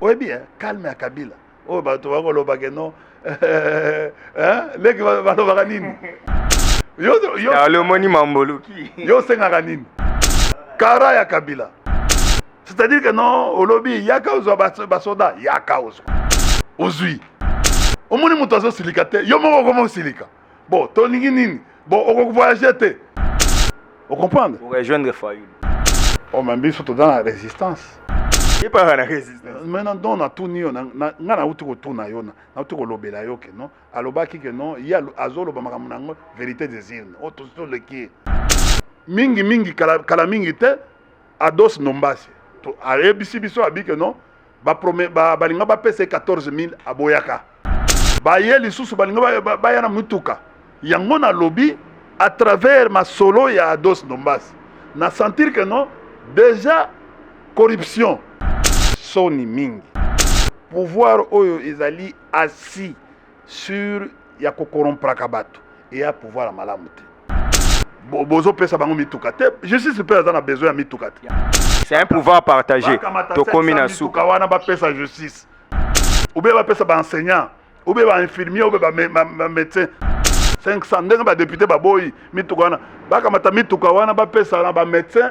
oyebi eh, calme ya kabila oyo bato bakolobake no eh, eh, leki balobaka nini yolomoni mamboluki yo osengaka nini kara ya kabila c'est-à-dire que non olobi yaka ozwa basoda yaka ozwa ozwi omoni moto azosilika te yo moko okoma osilika bon tolingi nini bon okoki voyage te ocomprendre orejoindre fayulu o ma biso toza na résistance epaka na résistance maintenant don natuni yo nga nauti kotuna yo nauti kolobela yo ke non alobaki ke non ye azoloba makambo na yango vérité des urnes o tosi toleki ye mingi mingi kala, kala mingi te ados nombasi ayebisi biso abi ke non balinga bapesa ye 14000 aboyaka baye lisusu balinga baya na mituka yango nalobi à travers masolo ya ados ndombas na sentir que non déjà corruption soni mingi pouvoir oyo ezali assis sur ya ko corrompraka bato eya pouvoir ya malamu te bozopesa bango mituka te justice mpe aza na besoin ya mituka te c'est un pouvoir partagé tokomi na suka wana bapesa justice obe bapesa baenseignant obe bainfirmier obe bamédecin 500 ndenge badepute baboyi mituka wana bakamata mituka wana bapesa na bamédecin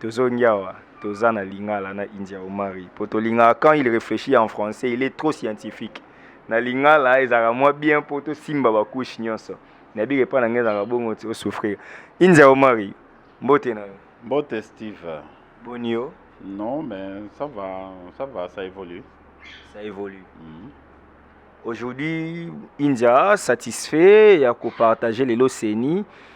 Tozongi awa toza na lingala na India Omari po tolingaka quand il réfléchit en français il est trop scientifique na lingala ezalaka mwa bien po tosimba bacouche nyonso nayebika epai na ngai ezalaka bongo ti osouffrir India Omari mbote na yo Mbote Steve. boni yo Non, mais ça va, ça va, ça évolue. ça évolue Mhm. aujourd'hui India satisfait ya kopartage lelo ceni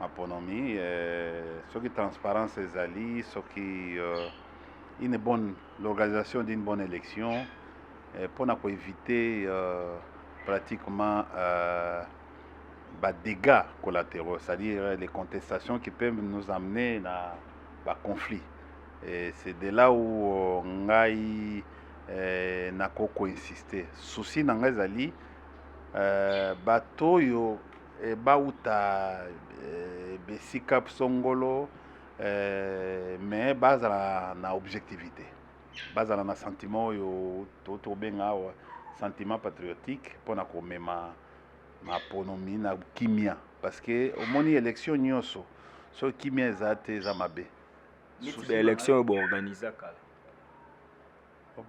maponomi euh, soki transparence ezali soki euh, une bonne l'organisation d'une bonne élection euh, mpo na koevite euh, pratiquement euh, badégats collatéraux c'est-à-dire euh, les contestations qui peuvent nous amener na baconflit et c'est de là où euh, ngai euh, nakoki koinsiste souci na ngai ezali euh, bato oyo e, bauta e, bisika songolo e, me bazala na objectivité bazala na sentiment oyo tobenga awa sentiment patriotique mpo na komema maponomi na kimia parce que omoni élection nyonso soki kimia eza te eza mabe élection oyo boorganiza kala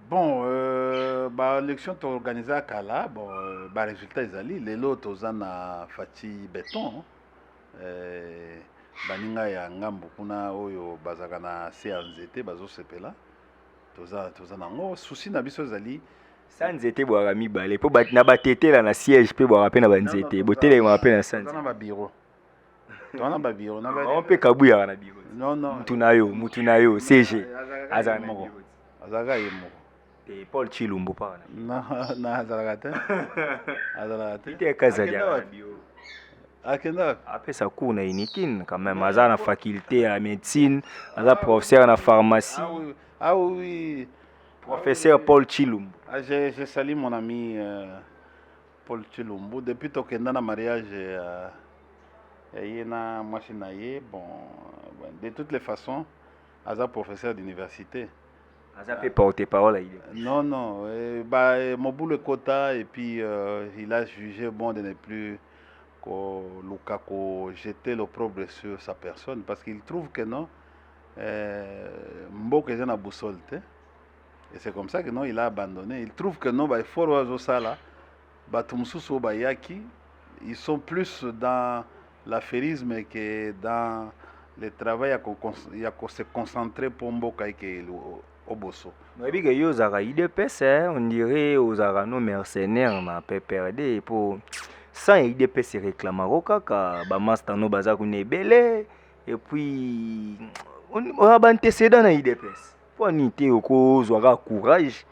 Bon, euh, ba election to organisa kala, bon, euh, ba resultat ezali lelo toza na Fatshi Beton. Euh, baninga ya ngambo kuna oyo bazaka na se ya nzete bazosepela toza toza nango susi na biso ezali sa nzete bwaka mibale mpo na batetela na siège mpe bwaka mpe na banzete botelemaka mpe na sanza na babiro twana babiro na bango mpe kabuyaka na biro mutu na yo mutu na yo cg azalaka na biro azalaka ye moko te paul chilumbu mpaka na azalaka te azalaka te ite kazali na biro akendaka apesa cour na unikin quand même aza na faculté ya médecine aza ah professeur na pharmacie ah oui ah professeur paul chilumbu ah, je, je salis mon ami euh... Paul Tshilumbu depuis tokenda na mariage ya ya ye na mwasi na ye bon bon, de toutes les façons aza professeur d'université aza mpe porte parole ya idps non non eh, ba, eh, mobulu ekota et puis euh, il a jugé bon de ne plus koluka ko jeter l'opprobre sur sa personne parce qu'il trouve que non eh, mboka eza na boussole te et c'est comme ça que non il a abandonné il trouve que non ba effort oyo azosala bato mosusu oyo bayaki ils sont plus dans l'affairisme que dans le travail ya ko- ya ko se concentrer mpo mboka eke oboso nayebi ke yo ozalaka idps eh, on dirait ozalaka no mercenaire na pprd mpo sans ya idps ereklamako kaka bamasta no baza kuna ebele epuis oza baantecedent na idps Mpo nini te okozwa kaka courage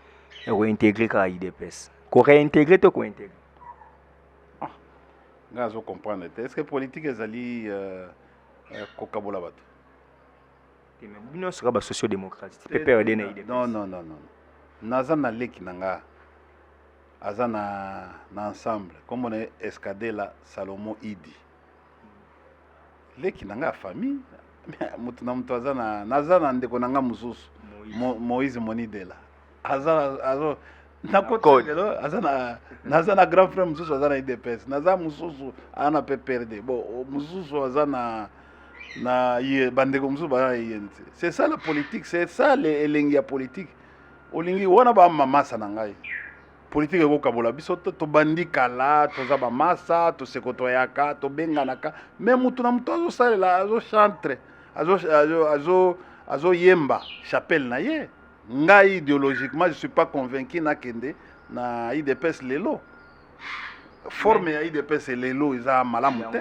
ya kointegre kaka idps koreintegre to kointegre ah, nga azo comprendre te est ce que politique ezali euh, euh, kokabola bato bino soka ba socio démocrate pprd na idps non non non non naza na leki na nga aza na, na ensemble kombo na ye escadela salomo idi leki na ngai ya famille moto na moto aza na naza na ndeko na ngai mosusu Mo- moïse monidela aza na- azo nakoti lelo aza na naza na grand frère mosusu aza na idps naza mosusu aza na pprd bon o- mosusu aza na na ye- bandeko mosusu baza na yeni te c'est ça la politique c'est ça le- elengi ya politique olingi wana bamamasa na ngai politike ekokabola biso to tobandi kala toza bamasa tosekotoyaka tobenganaka me motu na motu azosalela azochantre azoyemba chapelle na ye ngai ideologiquement je suis pas convaincu nakende na idps lelo forme ya idps lelo eza malamu te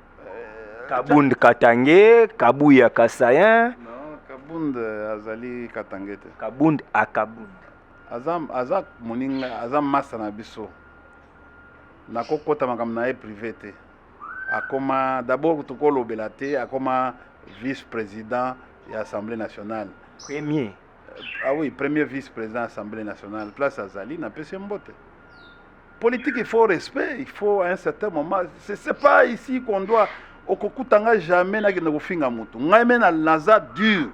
kabund katange kabuya kasayen non kabund azali katange te kabund akabund aza, aza moninga aza masa na biso nakokota makambo na ye prive te akoma d'abord tokolobela te akoma vice président ya assemblée nationale premier ah oui premier vice président assemblée nationale place azali napesi mbote Politique, il faut respect, il faut à un certain moment. C'est pas ici qu'on doit. Okokuta nga jamais na kende kofinga moto. Ngai me na naza dur.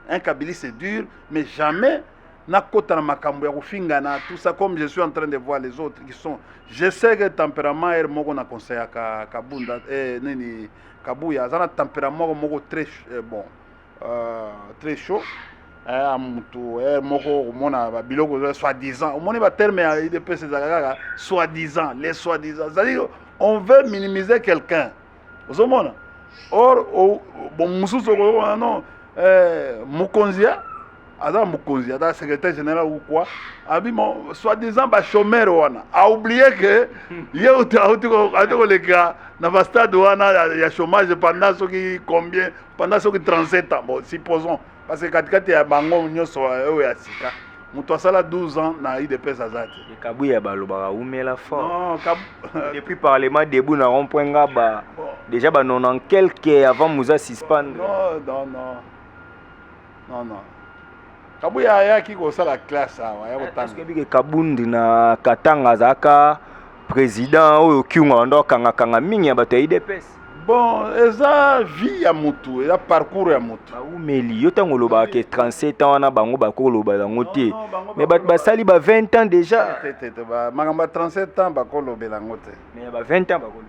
Un kabili c'est dur, mais jamais na kota na makambo ya kofinga na tout ça comme je suis en train de voir les autres qui sont. Je sais que tempérament er moko na conseil ka kabunda eh nini kabuya azana tempérament moko très eh, bon. euh, très chaud eh, motu eh, moko okomona babiloko eza soit disant omoni baterme ya idps ezalaka kaka soit disant les soit disant cestadire on veut minimiser quelqu'un ozomona or bon mosusu okoyokona non eh, mokonzi ya aza mokonzi aza secrétaire général ou quoi abi soit disant bachomere wana aoublie ke ye auti koleka na bastade wana ya chômage pendant soki combien pendant soki 37 ans bon supposons parce que katikati ya bango nyonso oyo ya sika moto asala 12 ans na udps aza te kabuya balobaka umela fort non, kab... depuis parlement debout na rond point ngaba bon. déjà ba 90 quelque avant muza suspendre non non non Non, non. Kabuya ayaki kosala classe awa ya kotanga. Soki bike Kabundi na Katanga azalaka président oyo Kyunga banda kanga kanga mingi ya bato ya IDPS. Bon, eza vie ya mutu, eza parcours ya mutu. Baumeli yo tango olobaka ke 37 ans wana bango bakoloba yango te. non, bango Mais bato bakoloba. basali ba 20 ans déjà. Te, te, te, ba- makambo ya 37 ans bakolobela yango te Mais ya ba 20 ans bakoloba.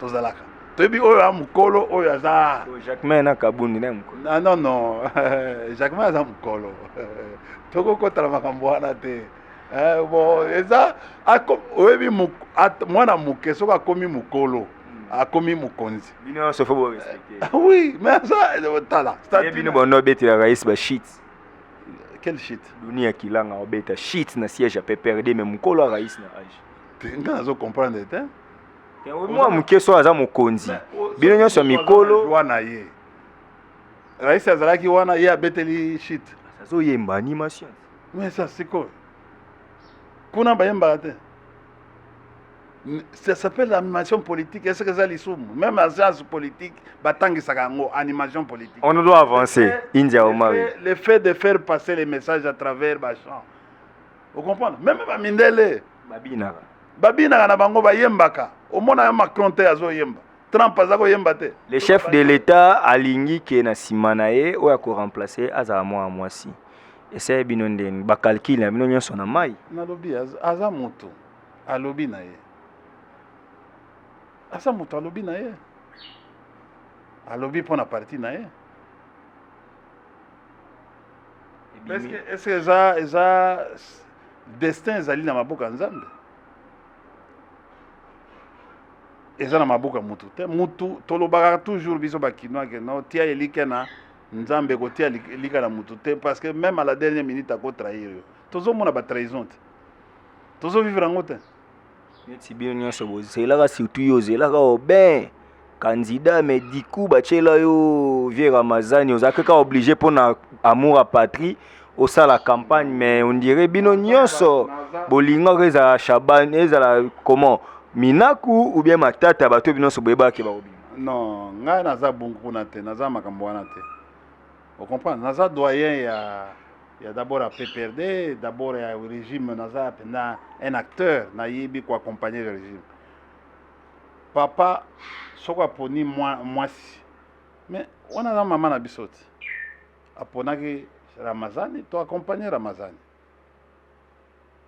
tozalaka toyebi oyo a mokolo oyo aza jacquemain na kabundi na mokolo ah, non non jacquemain aza mokolo tokokotala makambo wana te eh, bon eza oyebi mwana moke soki akomi mokolo akomi mokonzi bino nyonso fo borespecte ah oui mais aza tala bino bondo obetelaka yesi bashit quel shit doni ya kilanga obeta shit na siège ya pprd mais mokolo arais na age te nga nazo comprendre te mwa moke so aza mokonzi bino nyonso ya mikolo wana ye rais azalaki wana ye abeteli shit azoyemba animation mais ça sikoyo kuna bayembaka te ça s'appelle animation politique est-ce que eza lisumu même en science politique batangisaka yango animation politique on doit avancer india omari le fait de faire passer les messages à travers bachant ocomprendre meme bamindele babinaka babinaka na bango bayembaka omona ya macron te azoyemba trump aza koyemba te le chef de l'état alingi ke na nsima na ye oyo akoremplace azala mwana mwasi eseye bino ndeni bacalcule na bino nyonso na mai nalobi aza motu alobi na ye aza motu alobi na ye alobi mpo na parti na ye ebimi est-ce que eza eza destin ezali na maboko ya nzambe eza na maboko ya mutu te mutu tolobaka toujours biso bakinois ke no tia elike na nzambe kotia elika na mutu te parce que même à la dernière minute akotrahir yo tozomona batrahison te tozovivre yango te neti bino nyonso bozelaka surtout yo ozelaka oben candidat mais du coup batyela yo vieux ramazani oza kaka oblige mpo na amour a patrie osala campagne mais on dirait bino nyonso bolingaka ezala shaban ezala comment minaku ou bien matata bato bino nyonso boyebaki bakobima non ngai naza bongo kuna te naza makambo wana te o comprendre naza doyen ya ya d'abord ya PPRD d'abord ya régime naza mpenza un acteur nayebi koaccompagne le régime papa soko aponi mwasi mais wana aza mama na biso te aponaki ramazani to accompagne ramazani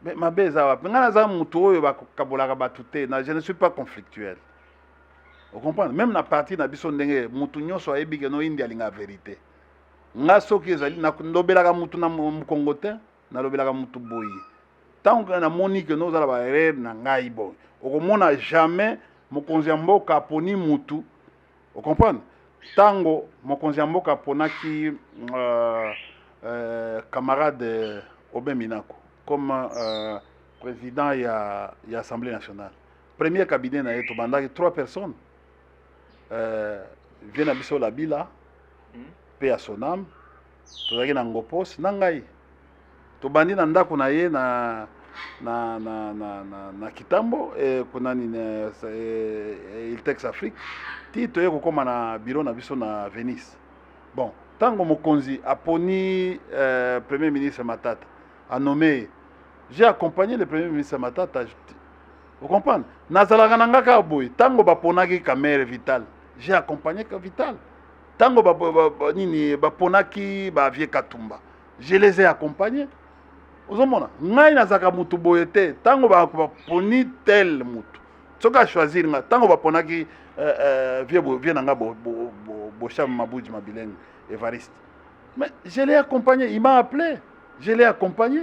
Mais mabe eza wapi ngai naza motu oyo bakabolaka bato te na je ne suis pas conflictuel ocomprendre meme na parti na biso ndenge motu nyonso ayebi keno indi alinga verité ngai soki ezali nalobelaka motu na mokongo te nalobelaka motu boye ntango namoni keno ozala barere na ngai boye okomona jamais mokonzi ya mboka aponi motu O comprendre? Tango mokonzi ya mboka aponaki euh, euh, camarade Aubin Minaku comme euh, président ya, ya Assemblée nationale. Premier cabinet na ye tobandaki trois personnes. Euh, vie na biso Labila, mpe ya Sonam, tozalaki na ngopos na ngai tobandi na ndako na ye na na na na na, na kitambo eh, kuna nini eh, eh, iltex afrique ti toye kokóma na biro na biso na venise bon ntango mokonzi aponi eh, premier ministre matata anome ye j'ai accompagné le premier ministre matata okomprendre nazalaka na nga kaka boye ntango baponaki kamere vital j'ai accompagné vital tango ba, ba, ba, nini baponaki ba vieux katumba je les ai accompagne ozomona ngai nazalaka motu boye te ntango baponi tel motu soki achoisir ngai ntango baponaki euh, euh, vie, vie na ngai bosham mabuji mabilenge evariste mais je l'ai accompagné il m'a appelé je l'ai accompagné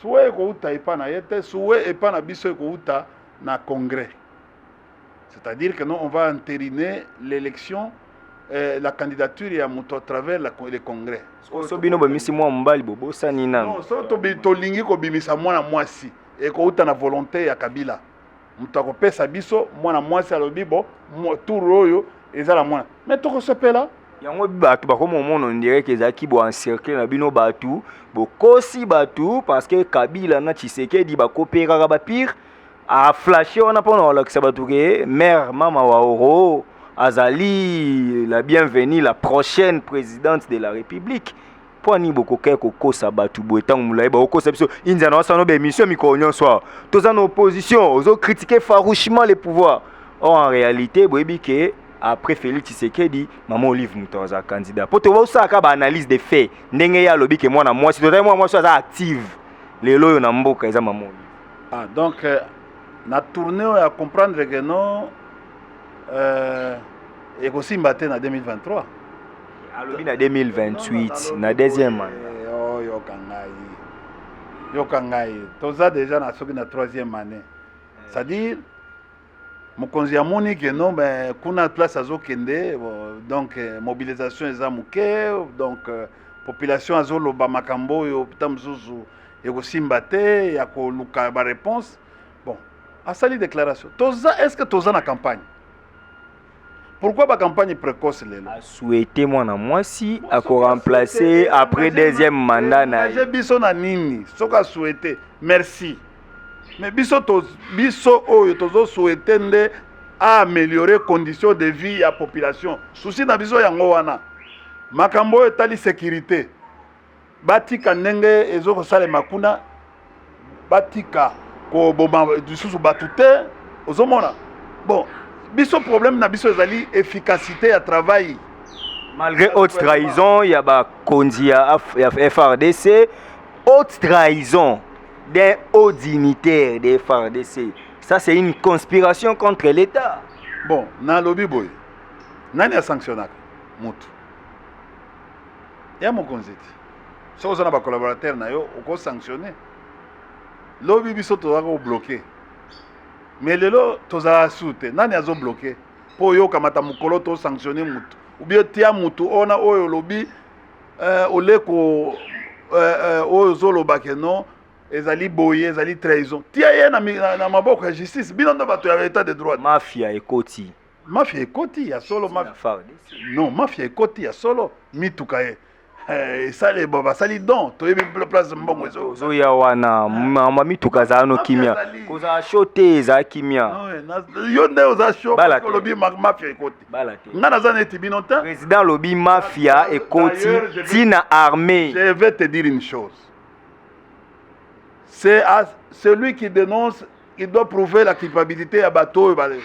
suwe ekouta epa na ye te suwe epa na biso ekouta na congrès c'est-à-dire que non on va entériner l'élection eh, la candidature ya moto à travers la, le congrès so bino bomisi mwana mobali bobosani nano so tolingi kobimisa mwana mwasi ekouta na volonté ya kabila moto akopesa biso mwana mwasi alobi bo tour oyo eza na mwana me tokosepela yango bato bakoma omona ondireke ezalaki bo encercle na bino bato bokosi bato parce que kabila na tshisekedi bakoperaka bapire aflashe wana mpo na kolakisa bato ke mare mama waoro azali la bienvenue la prochaine présidente de la république mpo nini bokokaki kokosa bato boye ntango molai bakokosa biso india na wasano baémission mikolo nyonso awa toza na opposition ozo critique farouchement le pouvoir or en réalité boyebi ke après félix tshisekedi mama olive moto aza candidat mpo tobosalaka baanalyse de fait ndenge ye alobi ke mwana mwasi tozali mwana mwasi aza active lelo oyo na mboka eza mama olive ah, donc euh, na tourne oyo ya comprendre ke no euh, ekosimba te na 2023 alobi na 2028 na deuxième année oh, yoka ngai yoka ngai toza déjà na soki na troisième année c'est-à-dire mokonzi amoni ke non ben kuna place azokende donc euh, mobilisation eza moke donc euh, population azoloba makambo oyo pita mosusu ekosimba te ya koluka baréponse bon asali déclaration toza est ce que toza na campagne pourquoi ba campagne précoce lelo souhaité mwana mwasi ako remplacer après deuxième mandat na ye biso na nini soki a souhaité merci mais biso to biso oyo tozo souhaiter nde a améliorer condition de vie ya population souci na biso yango wana makambo oyo etali sécurité batika ndenge ezo kosalema kuna batika koboma lisusu bato te ozomona bon biso problème na biso ezali efficacité ya travail malgré haute trahison ya bakonzi ya frdc haute trahison d'un haut dignitaire de frdc ça c'est une conspiration contre l'état bon nalobi boye nani asanctionnaka motu ya mokonzi te soki oza na bacollaborateur na yo okosanctionne lobi biso tozala kobloke mais lelo tozala su te nani azobloke mpo oyokamata mokolo tosanctionne motu ubie tia motu ona oyo olobi uh, oleko uh, uh, oyo ozoloba ke non ezali boye ezali trahison tia ye na, na, na maboko ya justice bino nde bato ya etat de droit mafia ekoti mafia ekoti ya solo ma... non mafia ekoti ya solo mituka ye eh, esali eh, basali don toyebi place mbongo ezoya wana mama mituka azala no kimia kozala sho te ezala kimia yo nde oza sho olobi mafia ekoti nga naza neti bino te président alobi mafia ekoti ntina armée je vais te dire une chose c'est à celui qui dénonce il doit prouver la culpabilité ya bato oyo bale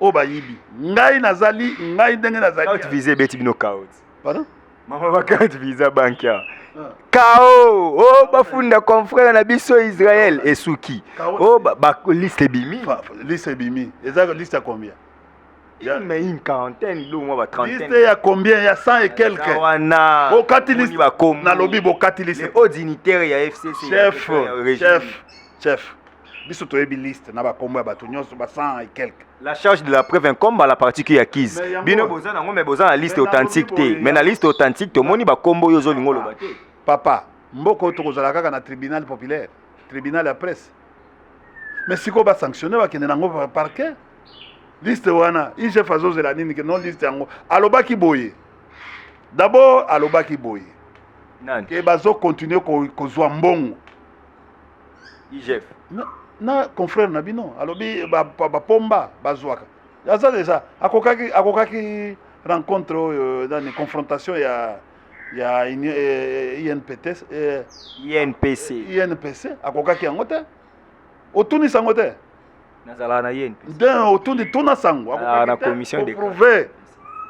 oyo bayibi ngai nazali ngai ndenge nazali Carte visa ebeti bino caot. Pardon? Mama ba carte visa banki awa. Kao oh bafunda confrère na biso Israël esuki. Kao- Oh ba, ba liste ebimi. Fa- fa- liste ebimi eza liste ya combien ya mais une quarantaine biloko mwa ba trentaine liste ya combien ya 100 et quelque wana bokati liste bakomi nalobi bokati liste o dignitaire ya FCC chef chef chef biso toyebi liste na bakombo ya bato nyonso ba 100 et quelque la charge de la preuve incombe à la partie qui acquise bino boza nango mais boza na liste authentique te mais na liste authentique tomoni bakombo oyo ozolinga oloba te papa mboka oyo tokozala kaka na tribunal populaire tribunal ya presse mais sikoyo basanctionne bakende nango parquet liste wana igf azozela nini ke non liste yango alobaki boye dabord alobaki boye ke bazokontinue kozwa mbongo igf na, na confrère na bino alobi bapomba ba, ba bazwaka aza deja akokaki akokaki rencontre oyo euh, nani confrontation ya ya union eh, INPT eh, INPC INPC akokaki yango te otunisa yango te nazalaka na INPC nde otundi tuna sango Nazalaka na akokaki te commission de koprouve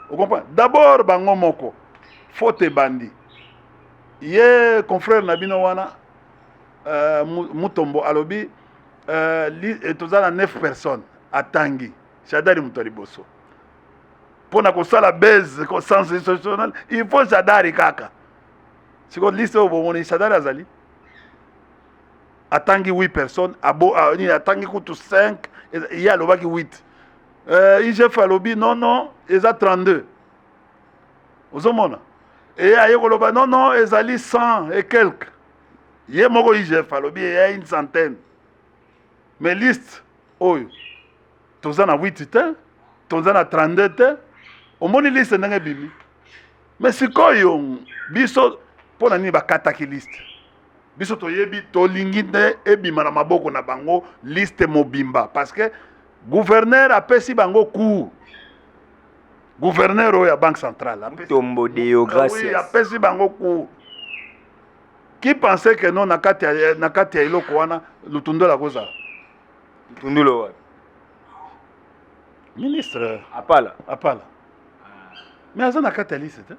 okomprendre d'abord bango moko faute ebandi ye confrère na bino wana euh, Mu- mutombo alobi euh, li- eh, toza na 9 personnes atangi shadari moto ya liboso mpo na kosala base sens institutionnel il faut shadari kaka sikoyo liste oyo bomoni shadari azali atangi 8 personnes abo nini atangi kutu 5 ye alobaki 8 euh, igf alobi non non eza 32 ozomona eye aye koloba non non ezali 100 et quelque ye moko igf alobi eya une centaine mais liste oyo toza na 8 te toza na 32 te omoni liste ndenge ebimi me sikoyo biso mpo na nini bakataki liste biso toyebi tolingi nde ebima na maboko na bango liste mobimba parce que gouverneur apesi bango cour gouverneur oyo ya banque centrale tombo deogracias apesi bango cour qui pensait que non na kati ya eloko wana lutundula kozala Tundolo wapi? Ministre Apala. Apala. Ah. Mais aza na kati ya liste te.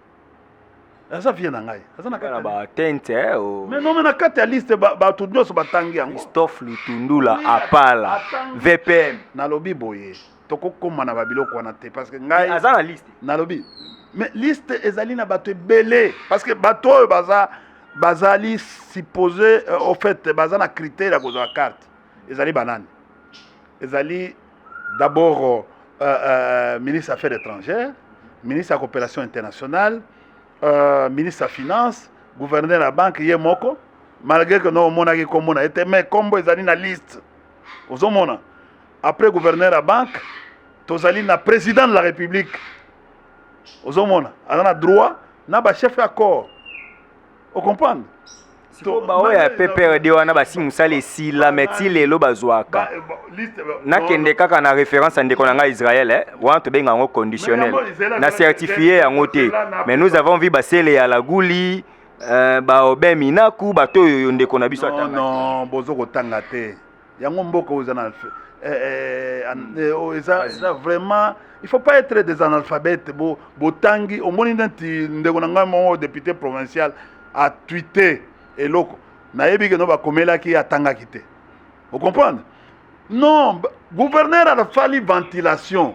aza vie na ngai aza na kati ya ba tente eh, oh. mais non mais na kati ya liste bato nyonso batangi yango christophe lutundula apala vpm nalobi boye tokokoma na babiloko wana te parce que ngai aza na liste nalobi mais liste ezali na bato ebele parce que bato oyo baza bazali supposé euh, au fait baza na critère ya kozwa carte ezali banani ezali d'abord euh, euh, ministre affaires étrangères ministre ya coopération internationale euh, ministre ya finance gouverneur ya banque ye moko malgré que no omonaki nkombo na ye te mais nkombo ezali na liste ozomona après gouverneur ya banque tozali na président de la république ozomona aza na droit na bachef ya corps o comprendre sikoyo baoyo ya pprd wana basi mosala esila me ti lelo bazwaka nakende kaka na référence ya ndeko na ngai israel eh? wana tobenga yango conditionnel na certifie yango te mais nous avons vu basele ya laguli euh, baobe minaku bato oyo yo ndeko na biso atanga bozo kotanga te yango mboka oyo eza na eh, eh, hmm. eh, oh, eza eza vraiment il faut pas être des analphabètes bo botangi omoni neti ndeko na ngai moko député provincial a tweete eloko nayebi keno bakomelaki atangaki te ocomprendre non gouverneur alafali ventilation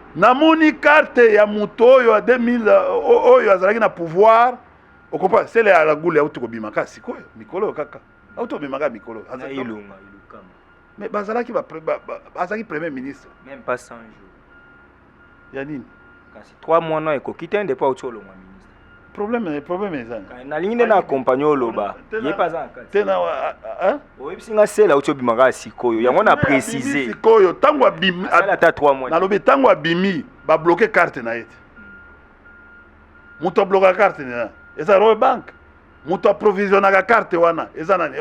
namoni carte ya moto oyo ya 2000 euh, oyo azalaki na pouvoir okopa sele ya lagule auti kobima kaka sikoyo mikolo oyo kaka auti kobima kaka mikolo mais bazalaki bazalaki premier ministre même pas 100 jours ya nini kasi 3 mois no ekoki te ndepo auti olongwa problème problème eza nalingi nde na accompagne oloba ye mpe aza na kati tena oyebisi nga sela auti obima kaka sikoyo yango na précise sikoyo ntango abimi ata 3 mois nalobi ntango abimi babloke carte na ye te moto ablokaka carte na eza roe banque moto aprovisionnaka carte wana eza nani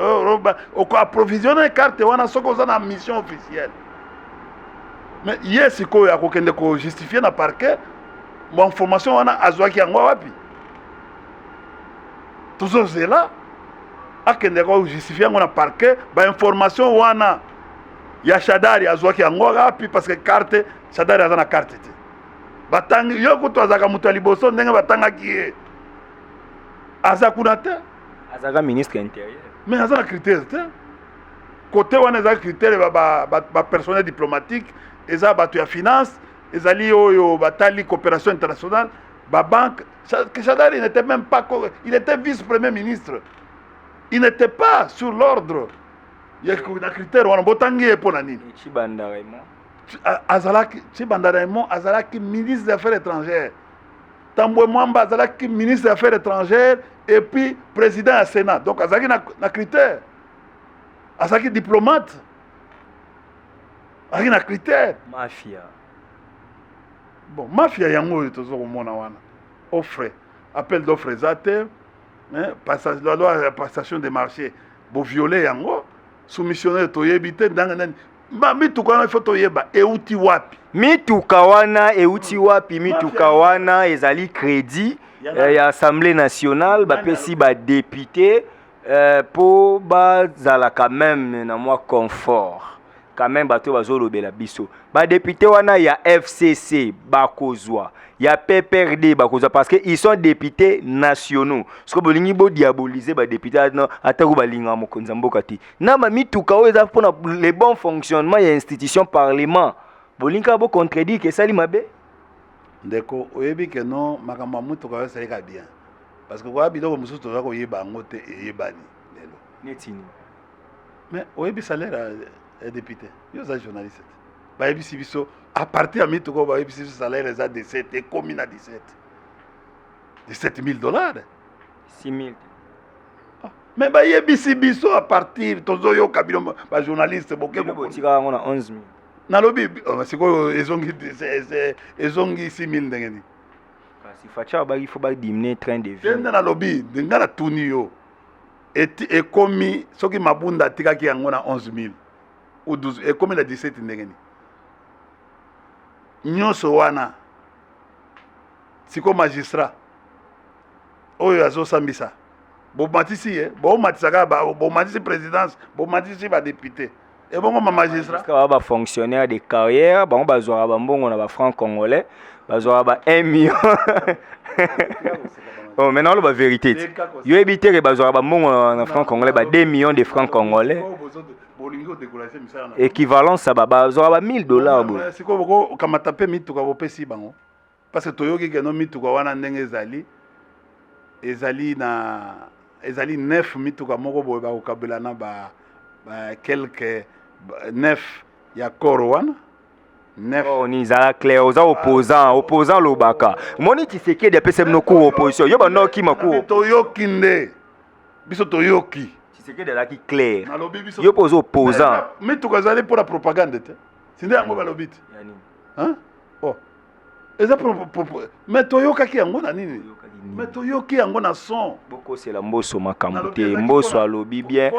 oko aprovisione carte wana soki oza na mission officielle mais ye sikoyo akokende kojustifie na parquet bainformation wana azwaki yango wapi tozozela akende kojustifie yango na parquet bainformation wana ya shadari azwaki yango wapi parce que carte shadari aza na carte te batangi yo kutu azalaka moto ya liboso ndenge batangaki ye aza kuna te azalaka ministre ya interieur mais aza na critère te kote wana eza critère bapersonnel ba, ba, ba diplomatique eza bato ya finance ezali oyo batali coopération internationale babanque shadari n'était même pas il était vice premier ministre il n'était pas sur l'ordre ya na critère wana botangi ye mpo na nini chibanda raymond azalaki chibanda raymond azalaki ministre des affaires étrangères Tambwe Mwamba azalaki ministre ya affaires étrangères et puis président ya Sénat. Donc azalaki na, na critère. Azalaki diplomate. Azalaki na critère. Mafia. Bon, mafia yango oyo tozo komona wana. Offre, appel d'offre eza te. Hein, passage, la loi passation des marchés. Bo violer yango. Soumissionnaire toyebi te ndanga nani Ba mituka wana ifo toyeba euti wapi? Mituka wana euti wapi? Mituka wana ezali credit eh, ya Assemblée nationale bapesi ba député eh, po bazala quand même na mwa confort quand même bato bazolobela biso badepute wana ya fcc bakozwa ya pprd bakozwa parce que ils sont députés nationaux soki bolingi bodiabolize badepute atako balingaka mokonzi ya mboka te na ma mituka oyo eza mpona le bon fonctionnement ya institution parlement bolingi kaka bocontredire ke esali mabe ndeko oyebi ke no makambo ya motuka oyo esalika bien parce que koya biloko mosusu toza koyeba yango te eyebani lelo netini mais oyebi salaire ya député yo oza journaliste te bayebisi biso à partir ya mituka oyo bayebisi biso salaire eza 17 ekomi na 17 17 000 dollars 6 000 me bayebisi biso a partir tozoyoka bino bajournaliste bokekotika yango na 11 000 nalobi oh, sikoyo ezongi ezongi 6 000 ndenge nini kasi facha abaki fo badimine train de vie nde nalobi ngai natuni yo ekomi soki mabunda atikaki yango na 11 000 ou 12 ekomi na 17 ndenge nini nyonso wana sikoyo magistrat oyo azosambisa bomatisi ye bomatisaka bomatisi présidence bomatisi badepute ebongo ma magistrat ba ba fonctionnaire de carrière bango bazwaka bambongo na ba franc congolais bazwaka ba 1 million oh, maintenant oloba vérité ti yo yebi te ke bazwaka bambongo na franc congolais ba 2 millions de franc congolais équivalence ya bazwaka ba 1000 dollars boye sikoyo bokokamata mpe mituka bopesi bango parce que toyoki keno mituka wana ndenge ezali ezali na ezali nef mituka moko boye bakokabela na ba, ba quelque nef ya koro wana Oh, ni zala clair oza opposant opposant lobaka moni tshisekedi apesa bino cour opposition yo banda okima cour toyoki nde biso toyoki tshisekedi alaki clair yo mpe oza opposant mituka ezali mpo na propagande te sinde yango balobi te eza mais toyokaki yango na nini mais toyoki yango na son bokosela mboso makambo te mboso alobi bien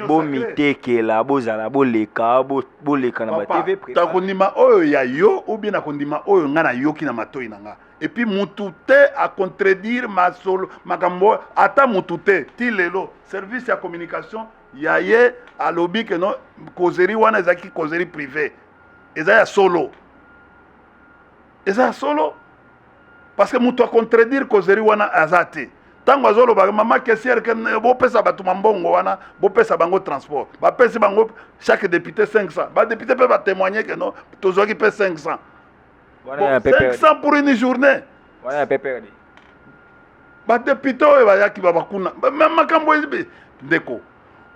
bomitekela bozala boleka boleka na batv takondima oyo ya yo ou bien nakondima oyo ngai nayoki na matoi na ngai epuis mutu te acontredire masolo makambo ata mutu te ti lelo service ya communication ya ye alobi keno kozeri wana ezalaki kozeri prive eza ya solo eza ya solo parce que moto acontredire causerie wana aza te ntango azolobaka mama kesiere ke bopesa bato mambongo wana bopesa bango transport bapesi bango chaque député 500 badepute mpe batémoigne ke no tozwaki mpe 500 500 pour une journée badepute oyo bayaki babakuna makambo ndeko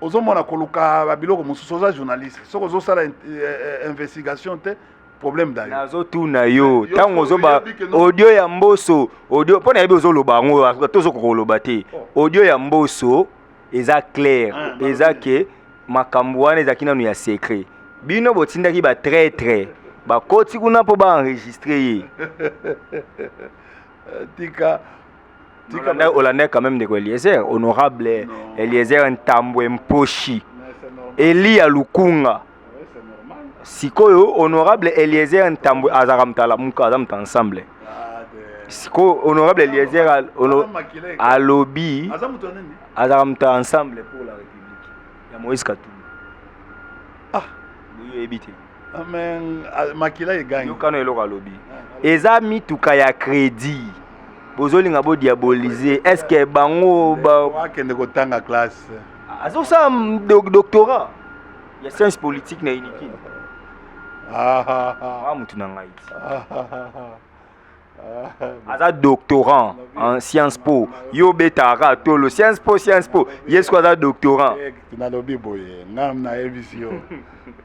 ozomona koluka babiloko mosusu oza journaliste soki ozosala eh, eh, investigation te problème dayo nazotuna yo ntango ozoba audio ya mboso audio mpo nayebi ozoloba yango tozokoka koloba te oh. audio ya mboso eza claire ah, eza ke makambo wana ezalaki nano ya secret bino botindaki batraitre bakoti kuna mpo baenregistre ye tika olandaki quand même ndeko eliezer honorable eliezer ntambwe mposhi eliya lukunga sikoyo honorable eliezer ntambwe azalaka moto alamuka aza moto ensemble sikoyo honorable eliezer alobi azalaka moto ensemble pour la république ya moïse katumbi ah boyebi te makila egangi yokano eloko alobi eza mituka ya crédit bozolinga bodiabolize est ce que bango bakende kotanga classe azosala doctorat ya science politique na unikin ah, ah, ah. ah motu na ngai aza doctorant en science po yo obetaka tolo science po science po ye siko aza doctorant eh, nalobi boye ngai nayebisi yo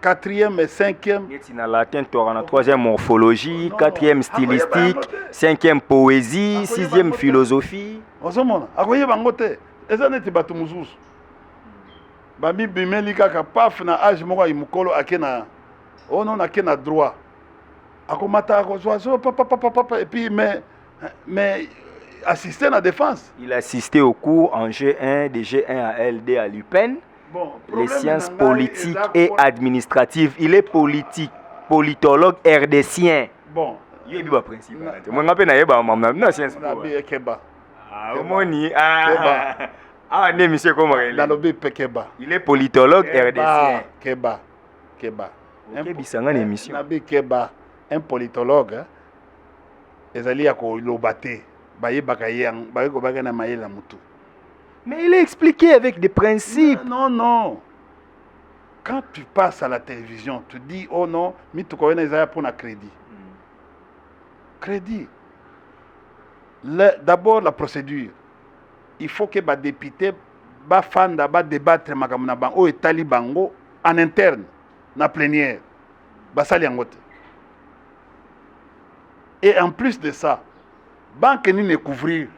quatrième et cinquième neti na latin toyaka na troisième morphologie quatrième stylistique cinquième poésie sixième philosophie ozomona akoyeba yango te eza neti bato mosusu bamibimeli kaka paf na age moko ayi mokolo ake na ono oh nake na droit akomata akozwa zo papapapapa epuis mais mais assiste na défense il assiste au cours en g1 de g1 à ld à lupin les sciences politiques et administratives. Il est politique, politologue rdcien. Bon. Ye biba principal. Moi ngape na yeba mamna na science po. Na keba. Ah omoni ah. Ah ne monsieur comment il est. Nalobi pekeba. Il est politologue rdcien. Keba. Keba. Kebisanga na émission. Na bi keba un politologue hein. ezali ya koloba te bayebaka ye yango baye kobaka na mayele ya motu Mais il est expliqué avec des principes. Non, non. Quand tu passes à la télévision, tu dis, oh non, mituka wana eza pour na crédit. Crédit. D'abord la procédure. Il faut que ba député ba fanda ba débattre makambo na bango oyo etali bango en interne na plénière basali yango te et en plus de ça banke nini ekouvrir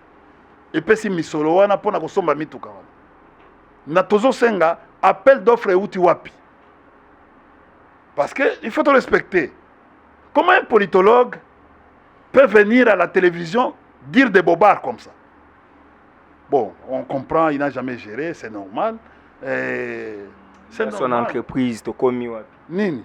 epesi misolo wana mpo na kosomba mituka wana na tozosenga appel d'offre euti wapi parce que il faut respecter comment un politologue peut venir à la télévision dire des bobards comme ça bon on comprend il n'a jamais géré c'est normal eh, c'est son normal. entreprise tokomi wapi nini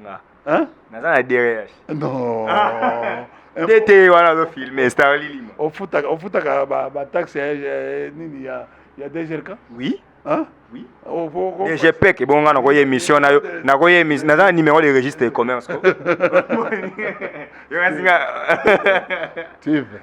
nga hein naza na DRH non DT wana zo filmer star lilima ofutaka ofutaka ba ba taxe ya nini ya ya DGRK oui hein oui oh, oh, oh, je paie que bon nga na ko émission na yo na ko émission naza numéro de registre de commerce ko yo nga tu veux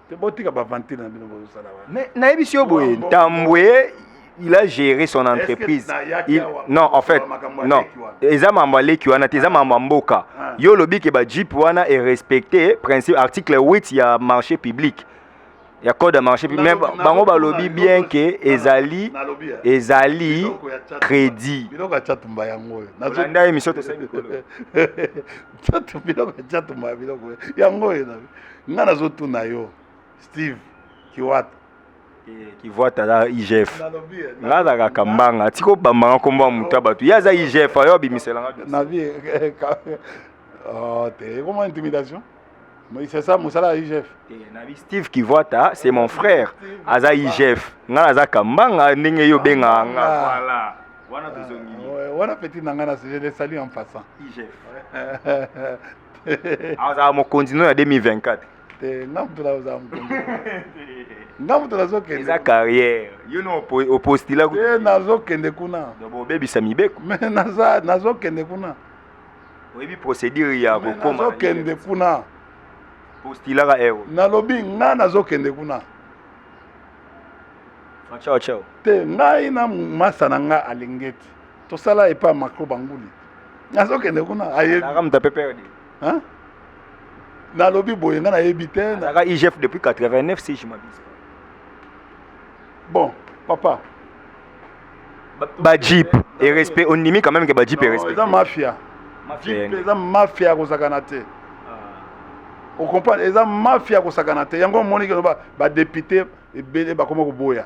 te botika bavantile na bino bozosala wana mais nayebisi yo boye ntambwe il a géré son entreprise il... non en fait non eza mambo ya leki wana te eza mambo ya mboka ah. yo olobi ke bajipe wana erespecte principe article 8 ya marché public ya code ya marché public mais bango balobi bien ke ezali ezali crédit biloko ya chatumba yango oyo nazolanda emission tosali biloko ya chatumba biloko yango oyo nga nazotuna yo steve kiwata eh, kivuata aza igf nga azalaka kambanga atika obambanga nkombo ya moto ya bato ye aza igf ayo abimiselanga na vie eh, eh, oh, te ekoma intimidation c'est ça mosala ya igf nabi steve kivuata c'est mon frère aza igf nga naza kambanga ndenge yo obengaka nga voilà wana tozongi wana petit na ngai na je le salut en passant igf azala mokonzi no ya 2024 te nga moto nazala mokonzi nga moto nazokende eza carrière yo no opostila te nazokende kuna obebisa mibeko me nazokende kuna oyebi procédure ya kokomanazokende kuna postilaka ero nalobi nga nazokende kuna te ngai na masa na ngai alingeti tosala epa macro banguli nazokende kuna nalobi boye nga nayebi te nazalaka igf depuis 89 si je m'abuse bon papa bajip et respect ondimi quand même ke bajip et respect eza mafia jip eza mafia kozakana te ah. ocomprendre eza mafia kosakana te yango omoni ke loba badepute ebele bakoma koboya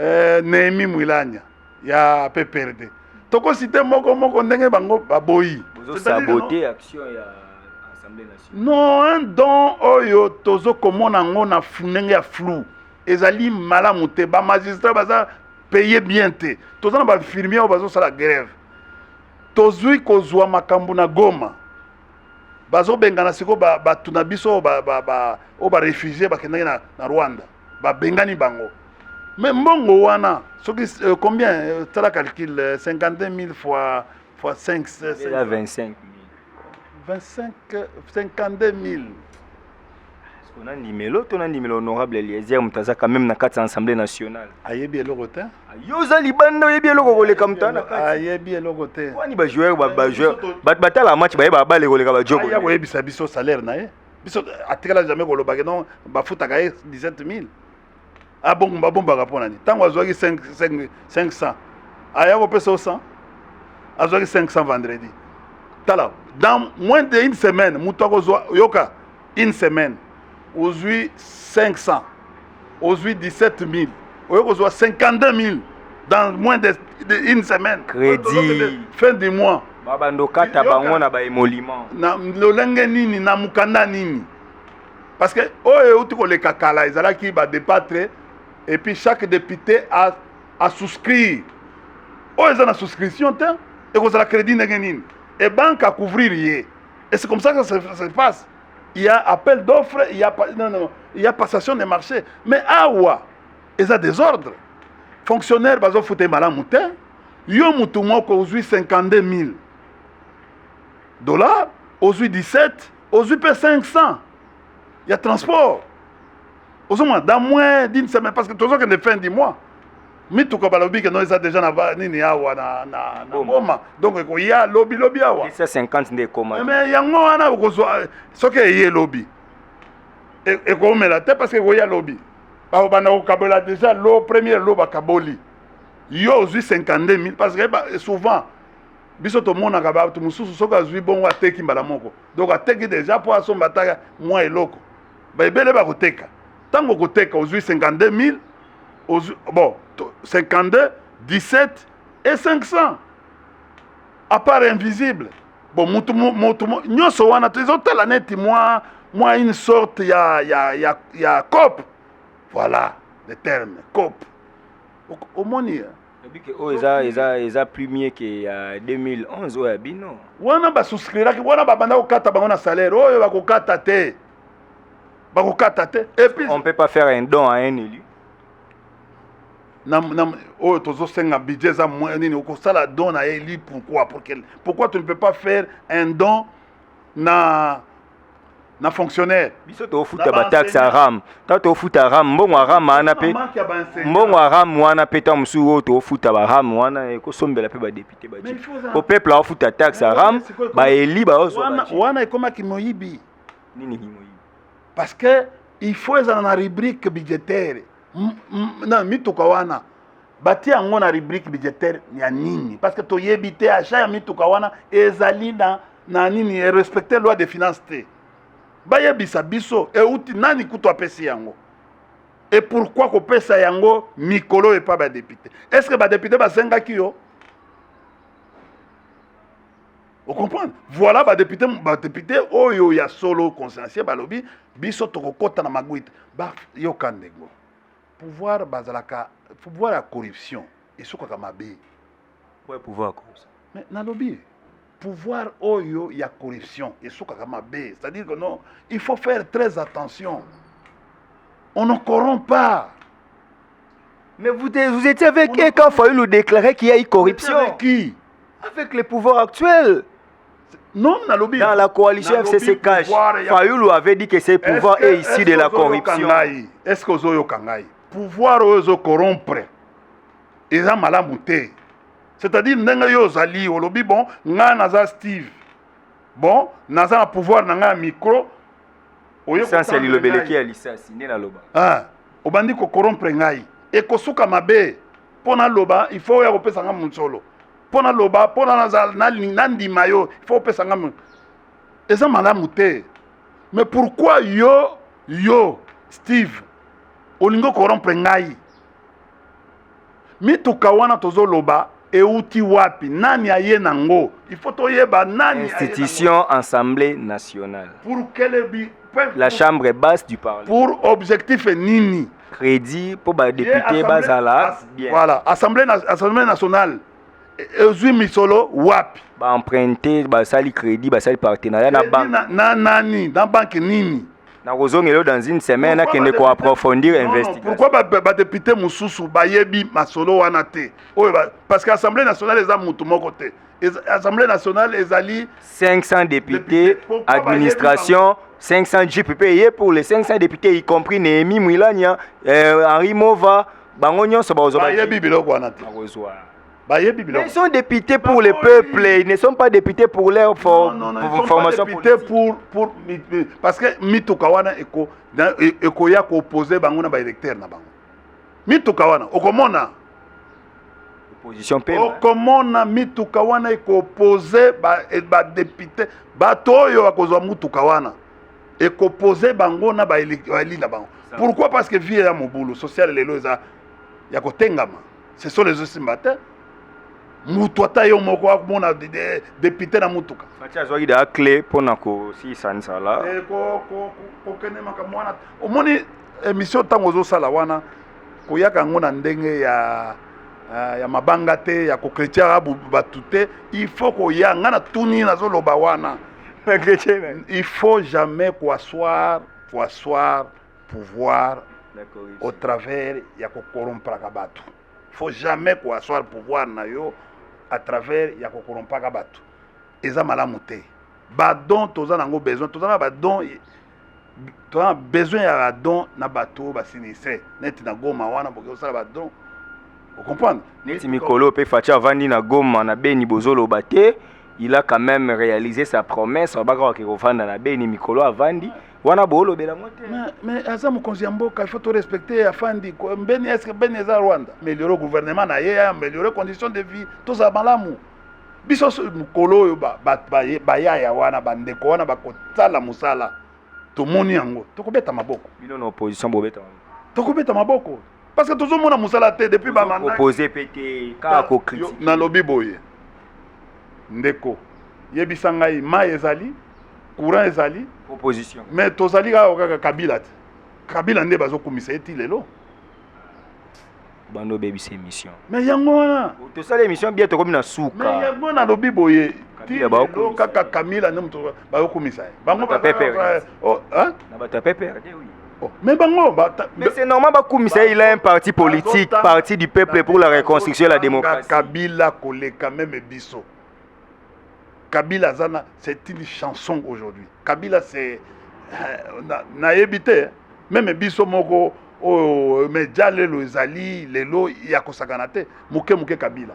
eh, Nehemi Mwilanya ya PPRD tokosite moko moko ndenge bango baboyi sabote action ya assemblée nationale non un don oyo tozokomona yango na ndenge ya flou ezali malamu te bamagistrat baza paye bien te toza na bainfirmier oyo bazosala grève tozwi kozwa makambo na goma bazobengana sikoyo bato na biso oyo barefugie bakendaki na rwanda babengani bango mais mbongo wana soki euh, combien euh, tala calcul 52 euh, 000 fois fois 5 25 25 52 000 tona ndimelo tona ndimelo honorable eliezer moto aza quand même na kati ya assemblée nationale ayebi eloko te yo oza libanda oyebi eloko koleka moto ana kati ayebi eloko te wani bajoueur bajoueur bato batala match bayeba babale koleka bajokoyebisa biso salaire na ye biso atikala jamais kolobake non bafutaka ye 17000 abongo babombaka mpo na nini ntango azwaki 500 aya kopesa yo 100 azwaki 500 vendredi tala dans moins de une semaine moto akozwa yoka une semaine ozwi 500 ozwi 17000 oye kozwa 52000 dans moins de, de une semaine crédit fin du mois babando kata bango na baemoliment na lolenge nini na mokanda nini parce que oyo euti koleka kala ezalaki badepatre et puis chaque député a, a souscrire oyo eza na souscription te ekozala crédit ndenge nini ebanke akouvrir ye et c'est comme ça que ça se passe il y a appel d'offre il y a non non il y a passation de marché mais awa eza désordre fonctionnaire bazo fute malamu te yo mutu moko ozwi 52 000 dollars ozwi 17 ozwi mpe 500 ya transport ozomona dans moins d'une semaine parce que tozokende fin du mois mituka balobi ke no eza deja na ba nini awa na na na boma donc ekoya lobi lobi awa 150 nde ekoma mais yango wana okozwa soki eye lobi e, ekoumela te parce que ekoya lobi bakobanda kokabola deja lo premier lo bakaboli yo ozwi 52 000 parce que ba, souvent biso tomonaka bato mosusu soki azwi bongo ateki mbala moko donc ateki deja mpo asomba ata mwa eloko baebele bakoteka ntango okoteka ozwi 52000 ozwi bon 52 17 et 500 apart invisible bon mutu mutu nyonso wana tozotala neti mwa mwa une sorte ya ya ya ya cope voilà le terme cope omoni obike oyo oh, eza eza eza plus mieux ke ya 2011 oyo ya bino wana basouscriraki wana babanda kokata bango na salaire oyo bakokata te bakokata te epuis on peut pas faire un don à un élu oyo tozosenga budget eza moyen nini okosala don na eli pourquoi pourquoi tu ne peux pas faire un don na na fonctionnaire biso tofuta bataxe ya ram ntango tofuta ram mbongo ya ram wana mpe mbongo ya ram wana mpe ntango mosusu oyo tofuta baram wana ekosombela mpe badepute baji po peuple aofuta taxe ya ram baeli baozo wana ekomaki moyibi nini ki moyibi parce que il faut ezala na rubrique budgétaire na mituka wana batie yango na rubrique budgétaire ya nini parce que toyebi te achat ya mituka wana ezali na na nini erespecte loi de finance te bayebisa biso euti nani kutu apesi yango e pourkui kopesa yango mikolo epa badepute est ce que badepute basengaki yo Vous comprenez Voilà ba député ba député oyo ya solo consciencieux balobi biso tokokota na maguite. Ba yo kandego. Pouvoir bazalaka pouvoir ya corruption esukaka mabe. Ouais pouvoir corruption. Mais nalobi pouvoir oyo ya corruption esukaka mabe. C'est-à-dire que non, il faut faire très attention. On ne corrompt pas. Mais vous, vous étiez avec eux quand Fayoulou déclarait qu'il y a eu corruption. Avec qui avec les pouvoirs actuels Non, nalobi. Dans la coalition FCC Cash, Fayoulou avait dit que ces pouvoirs est, est issu de la corruption. Est-ce que Ozoyo Kangai, pouvoir Ozo corrompre, ils ont mal amouté. C'est-à-dire, Nenga yo Zali, Olobi, bon, nga naza Steve. Bon, naza na pouvoir na nga micro. Lisasi alilobeleki ya lisasi, nde naloba. Ah, obandi ko corrompre ngai. Ekosuka mabe. mpo naloba il faut oya kopesa nga mosolo mpo naloba mpo nandima yo il faut opesa nga eza malamu te mais pourquoi yo yo steve olingi okorompre ngai mituka wana tozoloba euti wapi nani aye nango il faut toyeba nani institution assemblée nationale pour quelle la chambre basse du parlement pour objectif nini credit mpo badepute bazala bien voilà assemblée, na, assemblée nationale ezwi e, misolo wapi baemprunte basali credit basali partenariat na banque na, na nani na banque nini nakozongela yo dans une semaine akende koaprofondir investigation pourquoi badepute ba, ba mosusu bayebi masolo wana te oyo parce que assemblée nationale eza motu moko te Assemblée nationale ezali 500 députés, administration 500 jeep payé pour les 500 députés y compris Néhémie Mwilania, euh, Henri Mova, bango nyonso bakozwa bayebi biloko wana te. bayebi biloko. Ils sont députés pour les peuples, ils ne sont pas députés pour leur for non, non, non, pour formation députés pour pour parce que mituka wana eko ekoya ko opposer bango na ba électeurs na bango. mituka wana okomona okomona mituka wana ekopose badepute ba bato oyo bakozwa motuka wana ekopose bango na baeli na bango pourquoi parce que vie ya mobulu sociale lelo eza ya kotengama ce sont les osimba te moto ata yo moko akomona depute na motuka fati azwaki da cle mpo na kosilisa nzala kokende eh, makambo wana omoni emission ntango ozosala wana koyaka yango na ndenge ya eh, ya mabanga te ya kokretiaka bato te il faut koya ngai natuni nazoloba wana il faut jamais koassoir koassoir pouvoir au travers ya kokorompraka bato faut jamais koassoir pouvoir na yo à travers ya kokorompaka bato eza malamu te badon toza nango besoin toza na badon toza besoin ya badon na bato oyo basinistre neti na goma wana boke kosala badon ocomprendre neti mikolo mpe faci avandi na goma na beni bozoloba te il a quand même réalisé sa promesse abaka wake kovanda na beni mikolo avandi wana boolobela yango te mais aza mokonzi ya mboka ifaut torespecte afandi mbeni eske beni eza rwanda ameliore gouvernement na ye ameliore condition de vie tozala malamu biso mokolo oyo bayaya wana bandeko wana bakosala mosala tomoni yango tokobeta maboko bino na opposition bobeta tokobeta maboko parce que tozomona mosala te depuis bamandapose mpe te kaka kokritike nalobi boye ndeko yebisa ngai mai ezali courant ezali opposition mais tozali kaka kaka kabila te kabila nde bazokumisa ye ti lelo banda obebisa emission me yango wana tosala emission bia tokomi na suka me yango nalobi boye tilo kaka kamila nde moto bayokumisa ye bango na bato ya pepere mais bango mais c'est normal bakumisa il a un parti politique parti du peuple pour la reconstruction et la démocratie kabila koleka meme biso Kabila Azana, c'est une chanson aujourd'hui. Kabila, c'est. Euh, nayebi te, meme biso moko, oh, mais déjà lelo ezali, lelo ya kosakana te, muke muke Kabila.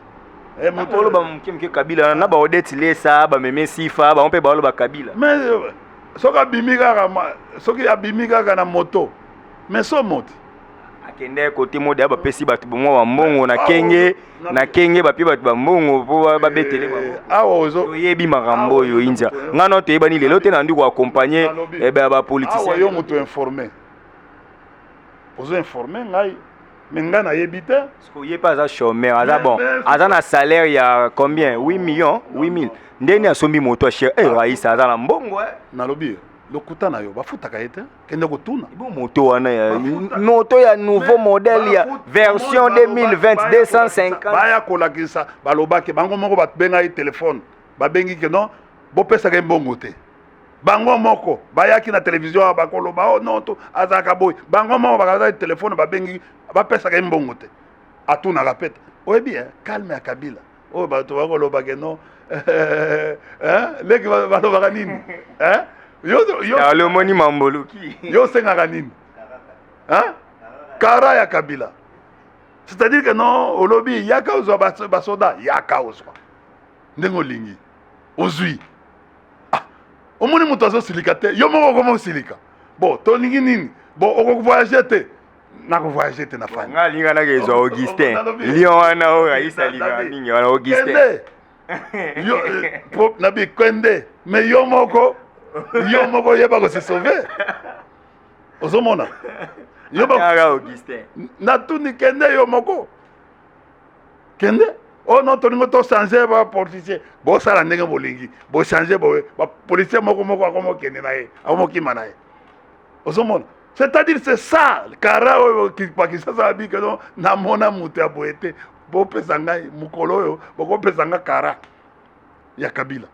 Eh, moto oloba muke muke Kabila, na ba Odette Lesa, ba Meme Sifa, ba mpe ba oloba Kabila. Mais euh, soki abimi kaka, soki abimi kaka na moto, mais so moti. akende kote moda bapesi bato bomwa bambongo na kenge na kenge bapie bato bambongo mpo babetele eh, awa toyebi makambo oyo india ngai no toyebani lelo te nandi koakompagne eh, bapoliticien yo moto informe ozo informe ngai me ngai nayebi te ye mpe aza chômeur aza bon aza na salaire ya combien 8 millions 8000 ndeni asombi moto ya chere eh, raisa aza na mbongo eh. nalobi lokuta na yo bafutaka ye te kende kotuna bo moto wana ya moto ya nouveau modèle ya version 2020 250 baya kolakisa balobaki bango moko babengaki telefone babengi ke non bopesaka ye mbongo te bango moko bayaki na televizio awa bakoloba o oh, non to azalaka boye bango moko bakazaki telefone babengi bapesaka ye mbongo te atunaka pete oyebi ye eh, calme ya kabila oyo bato bakoloba ke no leki balobaka nini yolomoni mamboluki yo osengaka nini kara ya kabila c'est-à-dire que non olobi yaka ozwa basoda yaka ozwa ndenge olingi ozwi ah, omoni moto azosilika te yo moko okoma osilika bo tolingi nini bo okovoyage te nako voyage te na fani nga linga nake ezwa augustin lion wana oyo ayisa linga mingi wana augustin yo eh, na bikwende mais yo moko yo moko oyeba kose sauve ozomona natuni kende yo moko kende oyo oh no tolingi tochange bapoliticien bosala ndenge bolingi bochange boye bapoliticien moko moko akomokende na ye akomokima na ye ozomona c'est-à-dire c'est ça kara oyo pakisasa abika no namona moto ya boye te bopesa ngai mokolo oyo bokopesa ngai kara ya kabila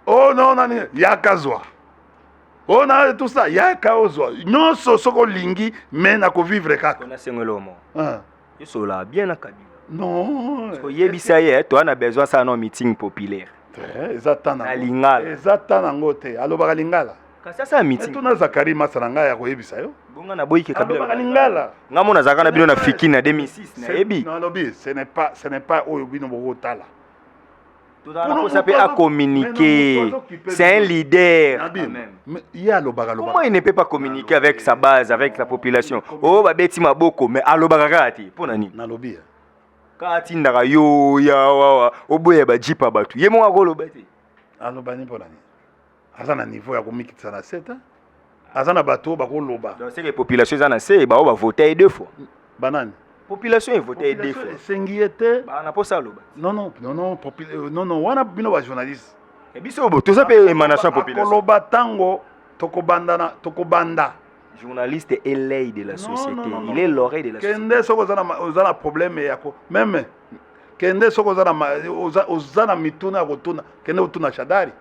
o oh, no nani yaka zwa o oh, na tout ça yaka ozwa nyonso soki olingi me nakovivre kaka esola bien na kabila non oyebisa ye eh, toa na besoin asala no meeting populaire eh, eza ta na lingala eza ta nango te alobaka lingala kasi asala meeting tuna zakari masa na ngai akoyebisa yo bonga na boyike kabilaka lingala ngai mona azalaka na bino na fiki na 2006 nayebi nalobi ce n'est pas oyo bino bokotala tozala na posa mpe acommuniquer c'est un leader ye alobaka comment il ne peut pas communiquer avec sa base avec la population oyo oh, babeti maboko mais alobaka kaka te mpo na nini nalobi kaka atindaka yo ya wawa oboya bajipa bato ye moko akoloba te alobani mpo na nini aza na niveau ya komikitisa na se te aza na bato oyo bakoloba donc seke population eza na se baoyo bavote ye deux fois banani population evote ye deux fois esengi ye te na mposa aloba non non non non euh, non non wana bino bajournaliste eh, biso toza mpe émanation ya population akoloba ntango tokobandana tokobanda journaliste est l'œil de la société non, non, non, il est l'oreille de la société kende soki oza na problème yako meme kende soki oza na, oza, oza na mituna ya kotuna kende kotuna shadari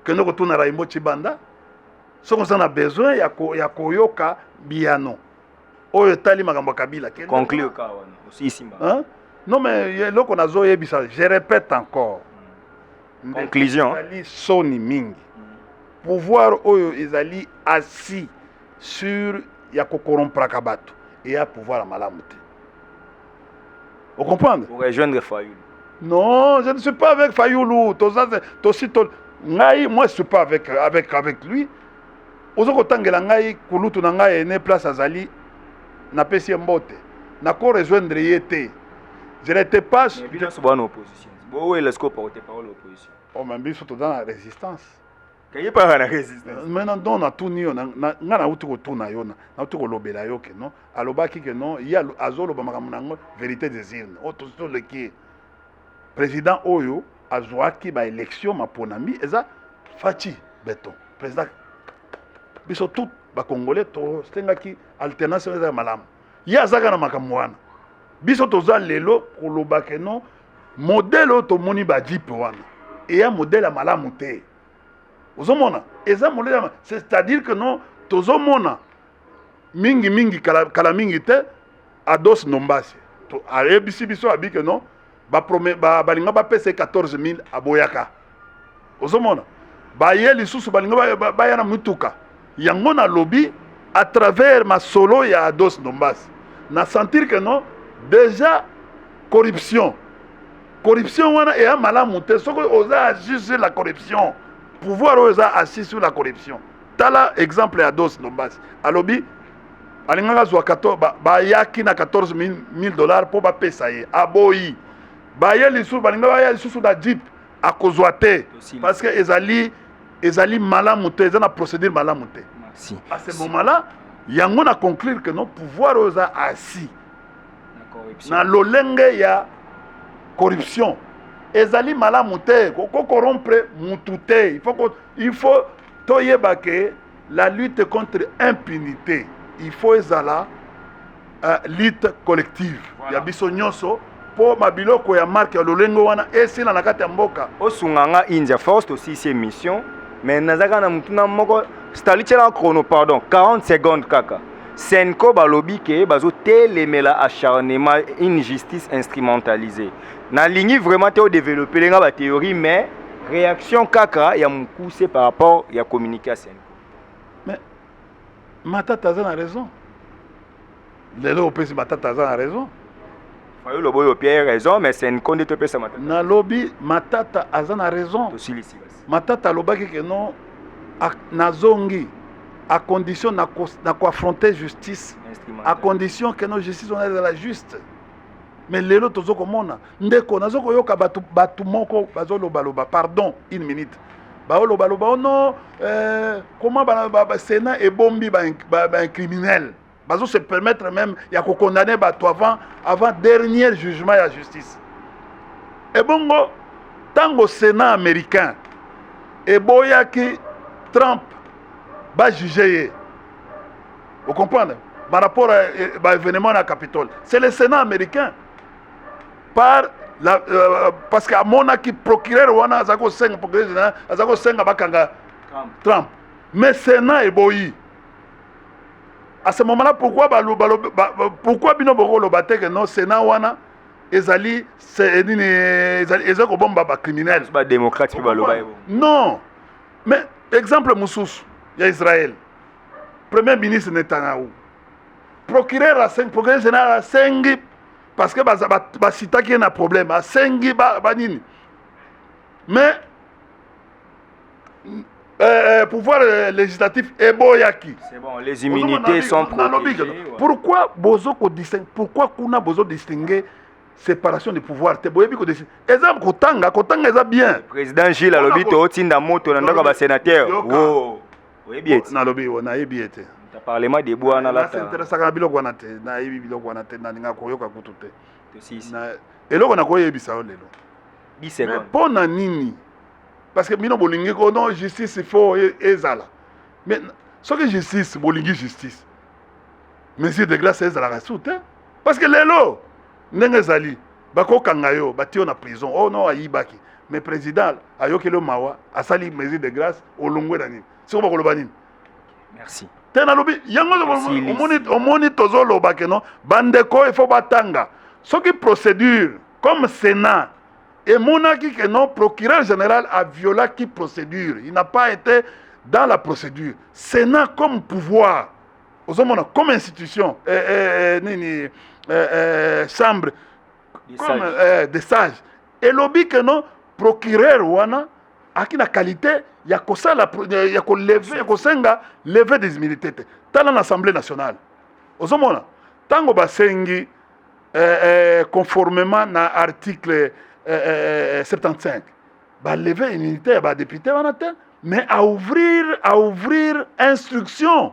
kende kotuna raimbo chibanda soki oza na besoin ya, ko, ya koyoka biyano oyo etali makambo ya kabila conclure ka wana osisi mba non mais eloko nazoyebisa je répète encore hmm. conclusion ezali soni mingi pouvoir oyo ezali assis sur ya ko corrompraka bato eya pouvoir ya malamu te o comprendre pour rejoindre fayulu non je ne suis pas avec fayulu toza tosi to ngai moi je suis pas avec avec avec lui oza kotangela ngai kulutu na ngai ene place azali napesi ye mbote nako rejoindre ye te je n'étais pas bino sobo na opposition bo wela sikoyo porte parole opposition o ma biso toza na résistance kayipaka na resistance maintenant don natuni yo nga nauti kotuna yo nauti kolobela yo ke non alobaki ke non ye azoloba makambo na yango vérité des urnes oyo tosi toleki ye président oyo azwaki baélection maponami eza faci beton président biso tout bacongolais tosengaki alternance eza malamu ye azaka na makambo wana biso toza lelo koloba ke non modele oyo tomoni bajipe wana eya modele ya malamu te ozomona eza modele ya c'est-à-dire que non tozomona mingi mingi kala, kala mingi te ados ndombasi ayebisi biso abi ke non balinga bapesa ye 14000 aboyaka ozomona baye lisusu balinga baya na mituka yango nalobi à travers masolo ya ados ndombasi na sentir que non déjà corruption corruption wana eya malamu te soki oza agir sur la corruption pouvoir oyo eza assis sur la corruption tala exemple ya dos ndombasi alobi alingaka azwa bayaki na 14 000 dollars mpo bapesa ye aboyi baye lisusu balinga baya lisusu na jeep akozwa te parce que ezali ezali malamu te eza na procédure malamu te à ce moment là yango na conclure que non pouvoir oyo eza asi na lolenge ya corruption ezali malamu te kokorompre mutu te il faut toyeba ke La lutte contre impunité, il faut ezala uh, lutte collective voilà. ya biso nyonso mpo mabiloko ya marke ya lolenge wana esila na kati ya mboka. Osunga nga India Force tosisi emission mais nazaka na mutuna moko stali tiela chrono pardon 40 secondes kaka senco balobi ke bazotelemela acharnement une justice instrumentalisée nalingi vraiment te odeveloppele nga batheorie mais Reaction kaka ya mukuse par rapport ya communiqué ya Senko. Mais Matata aza na raison. Lelo opesi Matata aza na raison. Fayulu oboyi opie raison mais Senko nde topesa Matata. Nalobi Matata aza na raison. Tosilisi basi. Matata alobaki ke non nazongi à condition na ko affronter justice à condition que nos justice on est la juste me lelo tozo komona ndeko nazo koyoka bato bato moko bazolobaloba pardon une minute baolobaloba o oh non euh, comment basena ebombi baincriminel ba, ba bazo se permettre même ya kokondamne bato avant avant dernier jugement ya justice ebongo ntango sénat américain eboyaki trump bajuge ye Vous comprenez Par rapport à eh, bah, événement à Capitole, c'est le Sénat américain. Par la, euh, parce que amona qui procureur wana aza ko senga procureur général aza ko senga bakanga Trump. Trump. Mais Sénat eboyi. À ce moment-là, pourquoi ba, ba, ba, pourquoi bino boko loba te que non Sénat wana ezali c'est nini ezali ezali ko bomba ba criminel. Ba démocrate pe ba loba. Non. Mais exemple mususu ya Israël. premier ministre netanyahu procureur asengi procureur général asengi parce que basitaki ye na problème asengi banini mais euh, euh, pouvoir euh, législatif eboyaki bon, les immunités sont protégées ouais. pourquoi bozo ko distingue pourquoi kuna bozo distinguer séparation de pouvoir te boyebi kodesi eza kotanga kotanga eza bien président gilles alobi totinda moto na ndako ya basénateur oyebi ete nalobi oyo nayebi ete parlement de bois na lata interesaka na biloko wana te nayebi biloko wana te nalinga koyoka kutu te eloko nakoyebisa yo lelo mais mpo na nini parce que bino bolingi ko non justice faut e, ezala mais soki justice bolingi justice mesure de glace ezalaka su te parce que lelo ndenge ezali bakokanga yo batiyo na prison oh non ayibaki mais président ayokeli yo mawa asali mesure de grâce olongwe na nini siko bakoloba nini merci te nalobi yango omoni tozoloba keno bandeko il faut batanga soki procédure comme sénat emonaki que non procureur général a violaki procédure il n'a pas été dans la procédure sénat comme pouvoir ozomona comme institution eh, eh, eh, nini eh, eh, chambre Des comme sages. eh, des sages elobi que non procureur wana aki na qualité ya kosala pro- ya ya koleve ya kosenga leve des immunités te tala na assemblée nationale ozomona ntango basengi eh, eh, conformément na article eh, eh, eh, 75 ba lever immunité ya ba député wana te mais à ouvrir à ouvrir instruction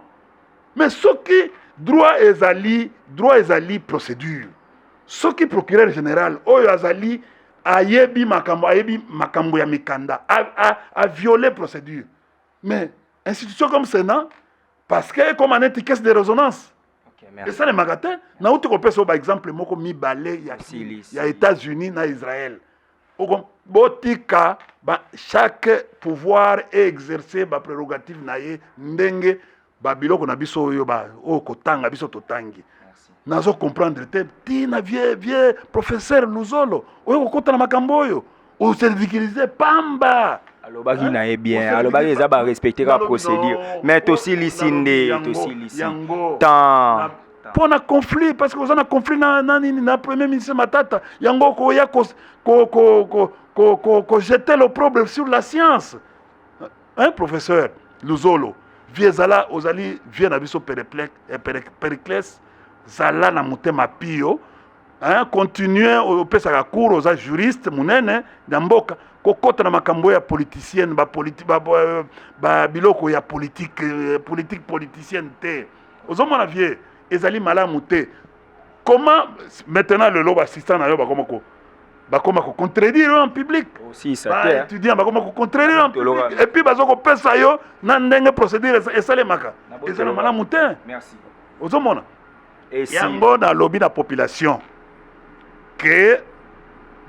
mais soki droit ezali droit ezali procédure soki procureur général oyo azali ayebi makambo ayebi makambo ya mikanda a, a, a viole procédure mais institution comme sénat parce que ekoma neti caisse de résonance Ok, merci. esalemaka te nauti kopesa yo baexemple moko mibale ya, Silisi. ya états-unis na israël botika ba chaque pouvoir e exercer ba prerogative na ye ndenge ba biloko na biso oyo ba oyo kotanga biso totangi nazo comprendre te tina vie vie professeur luzolo oyo kokota na makambo oyo oservikilize pamba alobaki na ye bien alobaki eza barespecteka procédure mais tosilisi nde tosilisi temps mpo na conflit parce que oza na conflit na, na nini na premier ministre matata yango okoya kojete ko, ko, ko, ko, ko, ko le problème sur la science hein, professeur luzolo vie ezala ozali vie na biso eh, pericles zala na motema pio hein, continue opesaka cour oza juriste monene na mboka kokota na makambo ya politicienne ba, politi, ba, ba, ba biloko ya politique eh, politique politicienne te ozomona vie ezali malamu te comment maintenant lelo bassistant na yo bakoma ko bakoma ko contredire yo en public baétudiant bakoma ko contredire yo en public epuis baza kopesa yo na ndenge procédure esalemaka ezala malamu te ozomona yango nalobi na population que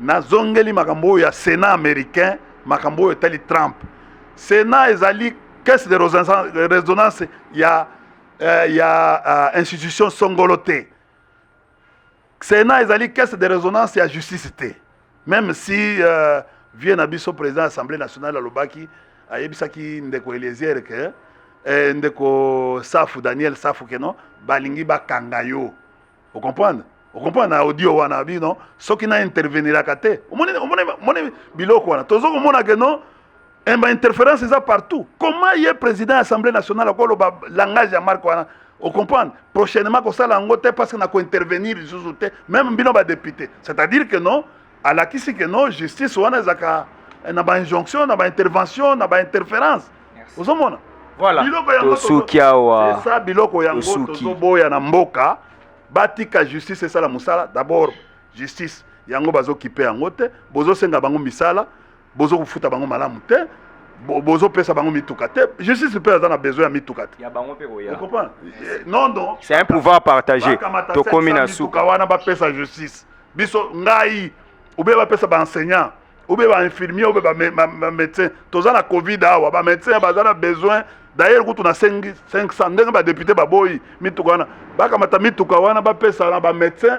nazongeli makambo oyo ya Sénat américain, makambo oyo etali Trump. Sénat ezali caisse de résonance ya euh, ya euh, institution songolo te. Sénat ezali caisse de résonance ya justice te. Même si euh, vieux na biso président ya Assemblée nationale alobaki ayebisaki ndeko Eliezer que eh, ndeko Safu Daniel Safu keno balingi bakanga yo. o comprendre o comprendre na audio wana abi non soki na interveniraka te omoni omoni omoni biloko wana tozo komona ke non eh, ba interférence eza partout comment ye président ya assemblée nationale akoloba langage ya marque wana o comprendre prochainement kosala yango te parce que na kointervenir lisusu te même bino badepute c'est à dire que non alakisi ke no justice wana ezalaka eh, na ba injonction na ba intervention na ba interférence ozomona voilà. biloko yango tosuki awa esa biloko yango tozoboya na mboka batika justice esala mosala d'abord justice yango bazokipe yango te bozosenga bango misala bozo kofuta bango malamu te bozo pesa bango mituka te justice mpe aza na besoin ya mituka te eh, non non c'est un pouvoir partagé tokomi na suka wana bapesa justice biso ngai obe bapesa baenseignant obe bainfirmier obe bamédecin toza na covid awa bamédecin baza na besoin d'ailleurs kutu na 500 ndenge badepute baboyi mituka wana bakamata mituka wana bapesa na bamédecin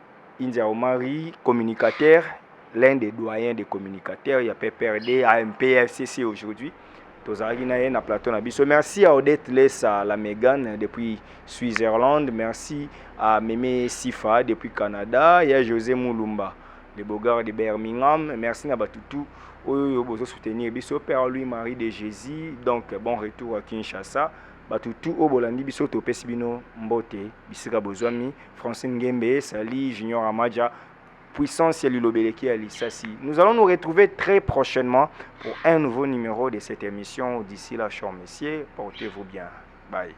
India Omari, communicateur, l'un des doyens des communicateurs, il y a PPRD, AMPFCC aujourd'hui. Tozalaki na ye na plateau na biso. Merci à Odette Lessa, la Megan depuis Switzerland. Merci à Meme Sifa depuis Canada. Il y a José Moulumba, le beau gars de Birmingham. Merci na Batutu. Oyo yo bozo soutenir biso Père Louis Marie de Jésus. Donc bon retour à Kinshasa. Bato tout oyo bolandi biso topesi bino mbote bisika bozwami. Francine Ngembe, Sali, Junior Amaja, puissance ya liloba eleki ya lisasi. Nous allons nous retrouver très prochainement pour un nouveau numéro de cette émission. D'ici là, chers messieurs, portez-vous bien. Bye.